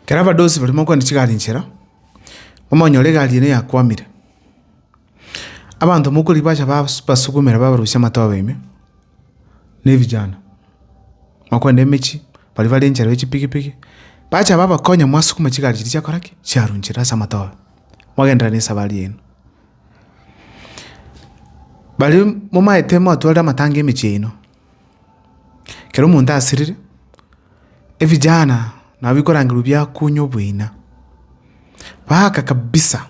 Ekero abadosi barimo kogenda chigari inchera, bamonyora egari ene yakwamire, abanto mokorwa bacha bas- basukumera babarusia amatoba ime, na ebijana, bakogenda emechie, baria bare inchera y'echipigipigi, bacha babakonya mwasukuma chigari chiria chiakora ki? Chiarwa inchera ase amatoba, mwagenderera na esafari yaino. Baria momaete mwatwarire amatanga emechie yaino, kera omonto asirire, evijana nabo bikorangerwa biakunywa oboina, baaka kabisa,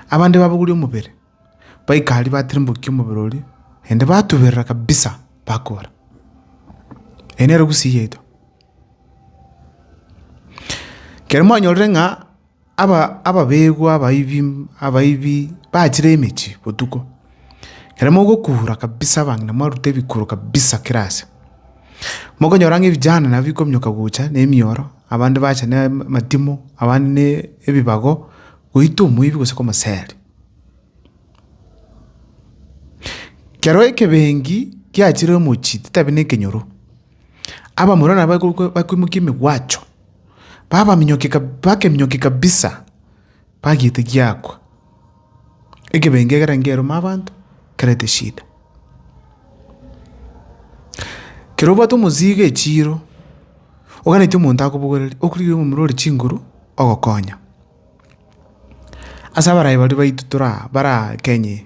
abande babogoria omobere, baika aria batirimbokia omobere oria, naende batuberera kabisa bakobora, eye nere gusii yaito. Kere mwanyorire ng'a Ababegwa abaibi bachire emechie botuko, ekero mogokura kabisa abang'ina mwarute ebikuro kabisa kera ase. Mokonyora ng'a ebijana nabo bikominyoka gocha ne emioro, abande bacha ne amatimo, abande ne ebibago goita omoibi gose komoseri. Kero ekebengi kiachire omochie titabe ne ekenyoro. Abamura nabo bakoimokia emegwacho, bakeminyokia kabisa, bagiete giakwa. Ekebengo ekero nkeroma abanto, nkerete eshida. Kero obwate omosii iga echiiro, oganetie omonto akobogoreria, okorigia omomura ore chinguru, ogokonya. Ase abarai baria baito tore aa, bare aa Kenya eye.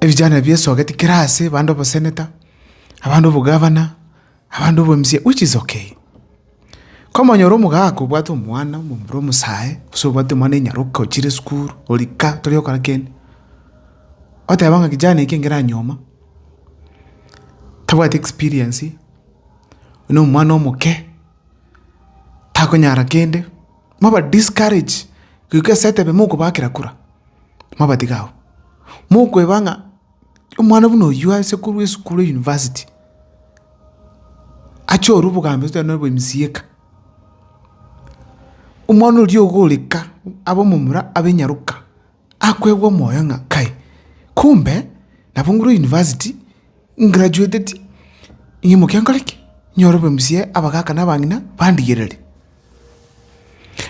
Ebijana ebi biesogeti kera aase, abande oboseneta, abande obogavana, abande obo mca which is okay. Komonyora omogaka obwate omwana omomura omosae, gose obwate omwana enyaroka ochire sukuru, ori ka tori gokora kende, oteba ng'a kijana eke ngera nyoma, tabwati experience, na omwana omoke, takonyara kende, mwaba discourage goika esaete ebe mokobaakera kura, mwabatiga abwo. Mokweba ng'a omwana buna oyio ase korwa esukuru ya university, ache orwa obogambi gose nonye obo mca ka, omwana oria ogo ore ka, abe omomura, abe nyaroka. Akwegwa omoyo ng'a kae kumbe nabo ngure university ngraduateti, ing'imoke nkore ki? Nyore obe mzee abagaka na abang'ina bandigerere.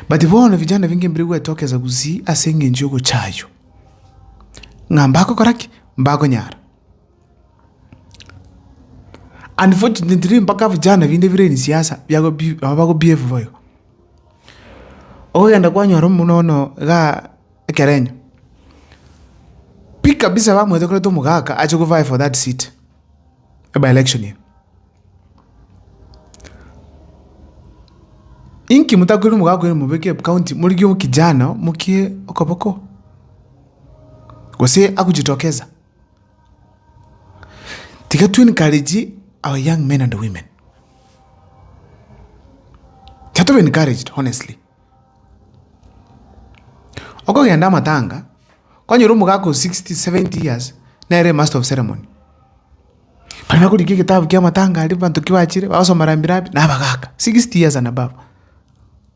But bono vijana binge mbire gwetokeza gusii ase eng'encho y'ogochaywa ng'a mbagokora ki? Mbagonyara. Unfortunately mpaka vijana vinde vire in siasa biago bi nabo bago behave bo igo. Okogenda kwanyora omino ono igaa ekerenyo, pi kabisa bamwetokorete omogaka ache go vie for that seat ebe election eye. Inki motakorire omogaka oyo mobeke ep county morigie omokijana mokie okoboko gose agochitokeza. Tiga to encourage our young men and women. Tiga tobe encouraged honestly. Okogenda amatanga, kwanyora omogaka o 60, 70 years nere master of ceremony. Baria bakorigia egetabu ki'amatanga aria abanto ki bachire, bagosoma rambirambi, na abagaka, 60 years and above.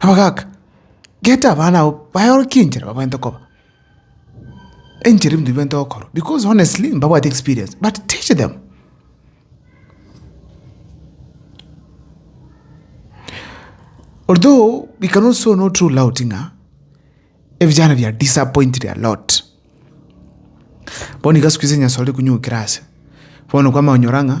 Abagaaka, geta abana abwo baye ore chinchera babwenerete koba enchera ebinto bibwenerete gokorwa because honestly mbabwati experience but teach them. Although we can also not rule out ng'a ebijana bia disappointed a lot bono iga siku hizi onye sorire konywa egokira ase bono kwama onyora ng'a.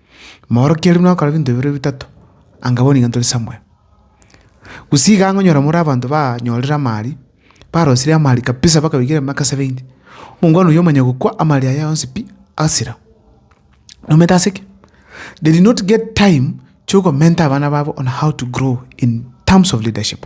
Moorokia riria mwakora ebinto bibere bitato, anga bono iga ntore somewhere. Gose iga ong'onyora more abanto banyorire amaari, barosirie amaari kabisa baka baigera emiaka seventy, omongwana oyio omanya gokwa amaari aye yonsi pi, asira. Nomanyete ase ki? They did not get time kiokomenta abana babo on how to grow in terms of leadership.